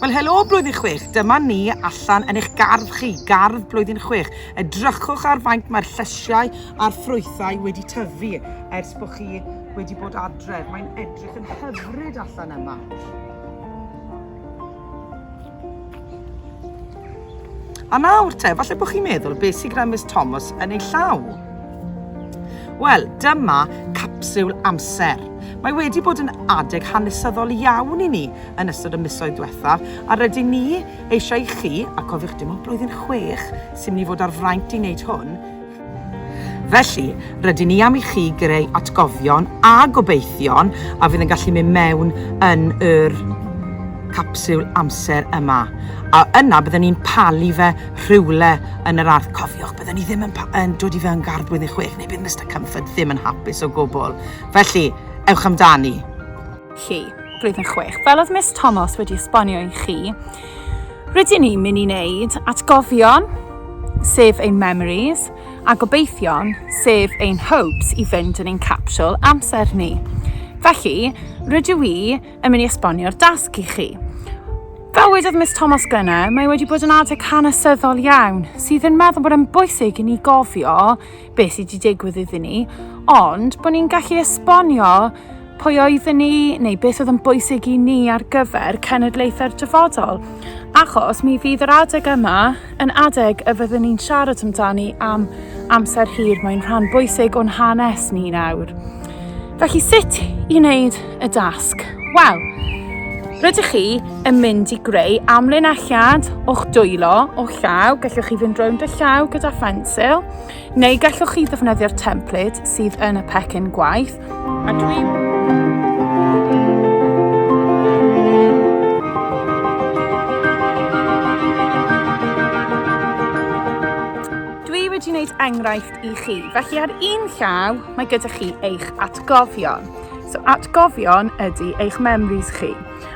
Wel helo blwyddyn chwech, dyma ni allan yn eich gardd chi, gardd blwyddyn chwech. Edrychwch ar faint mae'r llysiau a'r ffrwythau wedi tyfu ers bod chi wedi bod adref. Mae'n edrych yn hyfryd allan yma. A nawr te, falle bod chi'n meddwl, beth sydd gyda Miss Thomas yn ei llaw? Wel, dyma capsiwl amser. Mae wedi bod yn adeg hanesyddol iawn i ni yn ystod y misoedd diwethaf, a rydyn ni eisiau i chi, a cofiwch dim ond blwyddyn chwech sy'n mynd i fod ar fraint i wneud hwn, Felly, rydyn ni am i chi greu atgofion a gobeithion a fydd yn gallu mynd mewn yn yr capsiwl amser yma, a yna byddwn ni'n palu fe rhywle yn yr ardd. Cofiwch, byddwn ni ddim yn, pa, yn dod i fewn gardd blwyddyn chwech, neu bydd Mister Comfort ddim yn hapus o gwbl. Felly, ewch amdani! chi, blwyddyn chwech. Fel oedd Miss Tomos wedi esbonio i chi, Rydyn ni'n mynd i wneud atgofion, sef ein memories, a gobeithion, sef ein hopes, i fynd yn ein capsiwl amser ni. Felly, rydw i yn mynd i esbonio'r dasg i chi. Fel wedodd Miss Thomas Glenna, mae wedi bod yn adeg hanesyddol iawn sydd yn meddwl bod yn bwysig i ni gofio beth sydd wedi digwydd iddyn ni, ond bod ni'n gallu esbonio pwy oedden ni neu beth oedd yn bwysig i ni ar gyfer cenedlaethau'r dyfodol. Achos mi fydd yr adeg yma yn adeg y fyddwn ni'n siarad amdani am amser hir, mae'n rhan bwysig o'n hanes ni nawr. Felly sut i wneud y dasg? Wel, rydych chi yn mynd i greu amlinelliad o'ch dwylo o llaw, gallwch chi fynd rownd y llaw gyda phensil, neu gallwch chi ddefnyddio'r template sydd yn y pecyn gwaith. A dwi... Dwi wedi wneud enghraifft i chi. Felly ar un llaw, mae gyda chi eich atgofion. So atgofion ydy eich memories chi.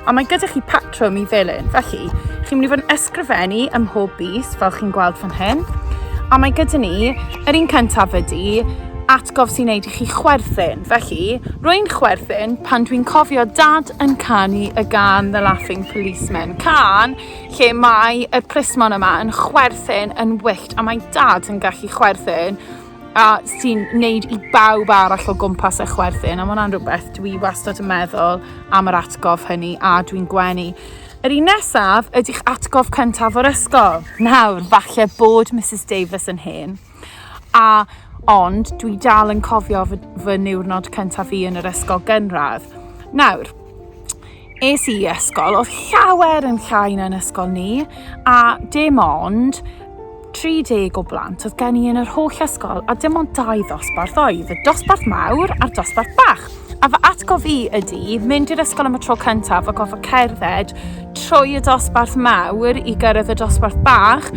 A mae gyda chi patrwm i ddilyn. Felly, chi'n mynd i fod yn ysgrifennu ym mhob bus, fel chi'n gweld fan hyn. A mae gyda ni, yr un cyntaf ydy, atgof sy'n neud i chi chwerthin. Felly, rwy'n chwerthin pan dwi'n cofio dad yn canu y gan The Laughing Policeman. Can lle mae y plismon yma yn chwerthin yn wyllt a mae dad yn gallu chwerthin a sy'n neud i bawb arall o gwmpas e chwerthin a mae hwnna'n rhywbeth dwi wastad yn meddwl am yr atgof hynny a dwi'n gwenu. Yr un nesaf ydy'ch atgof cyntaf o'r ysgol. Nawr, falle bod Mrs Davies yn hen, A, ond, dwi dal yn cofio fy, fy niwrnod cyntaf fi yn yr ysgol gynradd. Nawr, es i ysgol, oedd llawer yn llai na'n ysgol ni, a dim ond 30 o blant oedd gen i yn yr holl ysgol, a dim ond dau ddosbarth oedd, y dosbarth mawr a'r dosbarth bach. A fy atgof i ydy mynd i'r ysgol am y tro cyntaf a gofod cerdded trwy y dosbarth mawr i gyrraedd y dosbarth bach,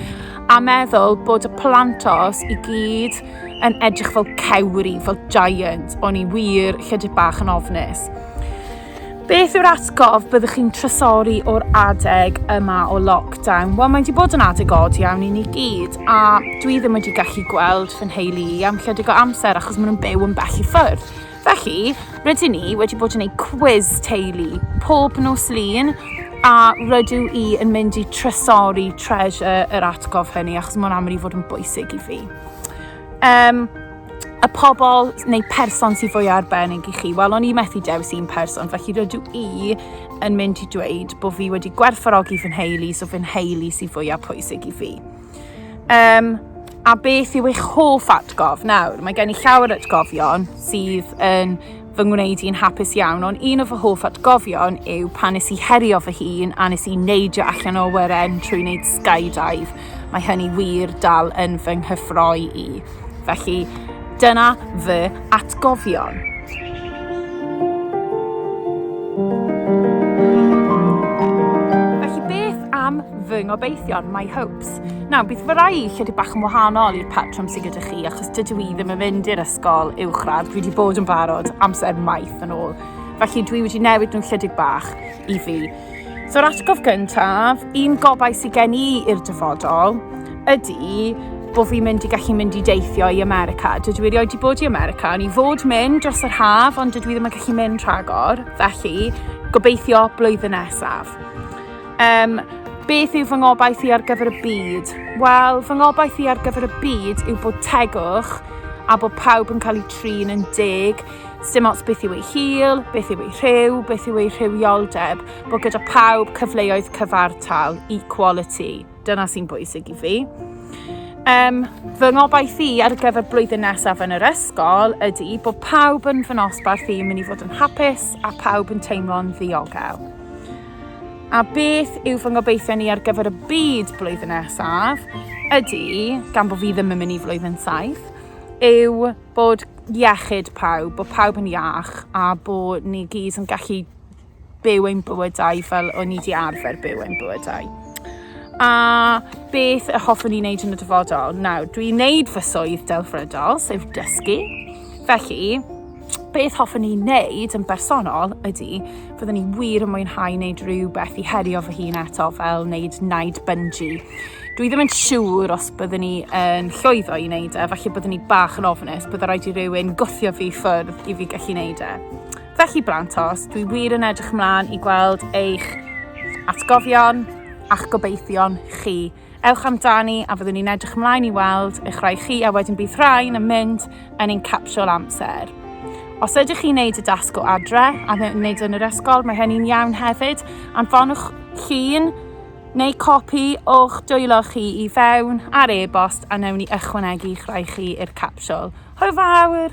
a meddwl bod y plantos i gyd yn edrych fel cewri, fel giant, o'n i wir lledig bach yn ofnus. Beth yw'r atgof byddwch chi'n trysori o'r adeg yma o lockdown? Wel, mae wedi bod yn adeg od iawn i ni gyd, a dwi ddim wedi gallu gweld fy nheulu i am lledig o amser achos maen nhw'n byw yn bell i ffwrdd. Felly, rydyn ni wedi bod yn ei cwiz teulu pob nos lun a rydw i yn mynd i trysori treasure yr atgof hynny achos mae'n aml i fod yn bwysig i fi. Um, y pobl neu person sy'n fwy arbennig i chi? Wel, o'n i methu dewis un person, felly rydw i yn mynd i dweud bod fi wedi gwerthfarogi fy nheulu, so fy nheulu sy'n fwyaf pwysig i fi. Um, a beth yw eich hoff atgof? Nawr, mae gen i llawer atgofion sydd yn fy ngwneud i'n hapus iawn, ond un o fy hoff atgofion yw pan nes i herio fy hun a nes i neidio allan o wyren trwy wneud skydive. Mae hynny wir dal yn fy nghyffroi i. Felly, dyna fy atgofion. Felly, beth am fy ngobeithion, my hopes? Nawr, bydd fy rai chydig bach yn wahanol i'r patrwm sydd gyda chi, achos dydw i ddim yn mynd i'r ysgol uwchradd. Dwi wedi bod yn barod amser maith yn ôl. Felly, dwi wedi newid nhw'n chydig bach i fi. So yr atgof gyntaf, un gobaith sydd gen i i'r dyfodol, ydy bod fi'n mynd i gallu mynd i deithio i America. Dydw i erioed wedi bod i America, ond i fod mynd dros yr haf, ond dydw i ddim yn gallu mynd rhagor, felly gobeithio blwyddyn nesaf. Um, beth yw fy ngobaith i ar gyfer y byd? Wel, fy ngobaith i ar gyfer y byd yw bod tegwch a bod pawb yn cael eu trin yn deg Dim ots beth yw ei hil, beth yw ei rhyw, beth yw ei rhywioldeb, bod gyda pawb cyfleoedd cyfartal, equality. Dyna sy'n bwysig i fi. Um, fy ngobaith i ar gyfer blwyddyn nesaf yn yr ysgol ydy bod pawb yn fy nosbarth i'n mynd i fod yn hapus a pawb yn teimlo'n ddiogel. A beth yw fy ngobeithio ni ar gyfer y byd blwyddyn nesaf ydy, gan bod fi ddim yn mynd i flwyddyn saith, yw bod iechyd pawb, bod pawb yn iach a bod ni gyd yn gallu byw ein bywydau fel o'n ni wedi arfer byw ein bywydau. A beth y hoffwn i wneud yn y dyfodol? Nawr, dwi'n wneud fy swydd delfrydol, sef dysgu. Felly, beth hoffwn i wneud yn bersonol ydy Fyddwn i wir yn mwynhau wneud rhywbeth i herio fy hun eto fel wneud naid bungee. Dwi ddim yn siŵr os byddwn ni yn llwyddo i wneud e, felly byddwn ni bach yn ofnus, byddai rhaid i rywun gwthio fi ffwrdd i fi gallu wneud e. Felly Brantos, dwi wir yn edrych ymlaen i gweld eich atgofion a'ch gobeithion chi Ewch amdani a fyddwn ni'n edrych ymlaen i weld eich rhai chi a wedyn bydd rhain yn mynd yn ein capsiol amser. Os ydych chi'n neud y dasg o adre a wneud yn yr ysgol, mae hynny'n iawn hefyd. Anfonwch llun neu copi o'ch dwylo chi i fewn ar e-bost a newn ni ychwanegu eich rhai chi i'r capsiol. Hwyl fawr!